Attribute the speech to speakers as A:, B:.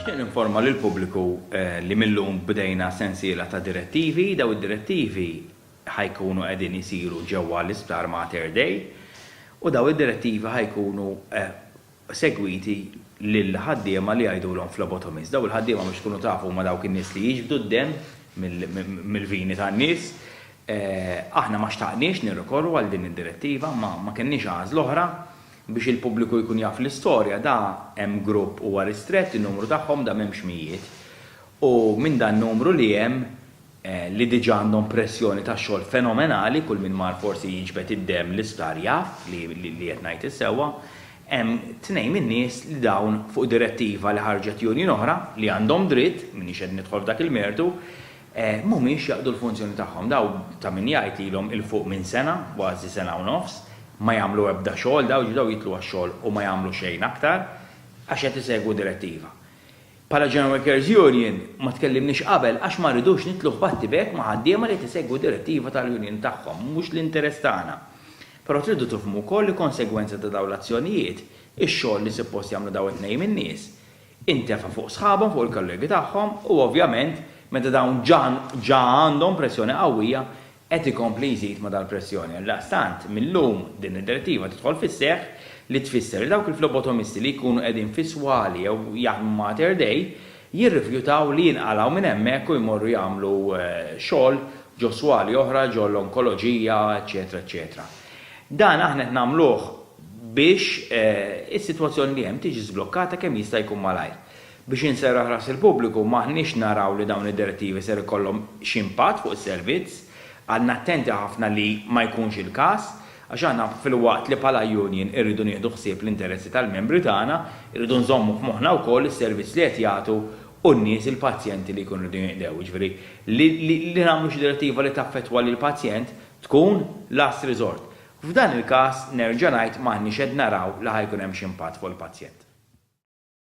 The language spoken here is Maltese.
A: Nixtieq ninforma lill-pubbliku li mil-lum bdejna sensiela ta' direttivi. Dawn id-direttivi ħa jkunu qegħdin isiru ġewwa l-Isptar Mater Dei u dawn id-direttivi ħa jkunu segwiti lill-ħaddiema li jgħidulhom phlebotomist. Dawn il-ħaddiema biex tkunu tafu huma dawk in-nies li jiġbdu d-demm mill-vini tan-nies. Aħna ma xtaqniex nirrikorru għal din id-direttiva, imma ma kellniex għażla oħra. Biex il-pubbliku jkun jaf l-istorja, da hemm grupp huwa ristrett, in-numru tagħhom da m'hemmx mijiet. U minn dan numru li hemm, li diġa għandhom pressjoni ta' xogħol fenomenali, kull min mar forsi jiġbed id-demm l-isptar jaf li qed ngħid is-sewwa, hemm tnejn min-nies li dawn fuq direttiva li ħarġet union oħra, li għandhom dritt, m'iniex qed nidħol f'dak il-mertu, mhumiex jaqdu l-funzjoni tagħhom. Daw, ta' min jgħid, ilhom 'il fuq minn sena, kważi sena u nofs, ma jagħmlu ebda xogħol, daw ġdew jidħlu għax-xogħol u ma jagħmlu xejn aktar, għax qed isegwu direttiva. Bħala General Workers Union, ma tkellimniex qabel għax ma rridux nidħlu f'battibek ma' ħaddiema li qed isegwu direttiva tal-union tagħhom, mhux l-interess tagħna. Però tridu tifhmu wkoll li konsegwenza ta' dawn l-azzjonijiet, ix-xogħol li suppost jagħmlu daw it-tnejn in-nies, intefa' fuq sħabhom, fuq il-kollegi tagħhom u ovvjament meta dawn ġa għandhom pressjoni qawwija qed ikompli jżid ma' dal-pressjoni. Għaldaqstant, mil-lum din id-Direttiva tidħol fis-seħħ li tfisser li dawk il-flebotomisti li jkunu qegħdin fi swali jew jaħdmu ma' Mater Dei jirrifjutaw li jinqalgħu minn hemmhekk u jmorru jagħmlu xogħol ġo swali oħra, ġo l-onkoloġija, eċċetera eċċetera. Dan aħna qed nagħmluh biex is-sitwazzjoni li hemm tiġi żblokkata kemm jista' jkun malajr. Biex inserraħ ras il-pubbliku, m'aħniex naraw li dawn id-direttivi ser ikollhom xi impatt fuq is-servizz. Għadna attenti ħafna li ma jkunx il-każ, għax aħna filwaqt li bħala union irridu nieħdu ħsieb l-interessi tal-membri tagħna, irridu nżommu f'moħħna wkoll is-servizz li qed jagħtu u n-nies, il-pazjenti li jkunu rridu jinqdew. Jiġifieri, li nagħmlu xi direttiva li taffettwa lill-pazjent tkun last resort. F'dan il-każ, nerġa' ngħid m'aħniex qed naraw li ħa jkun hemm xi impatt fuq il-pazjent.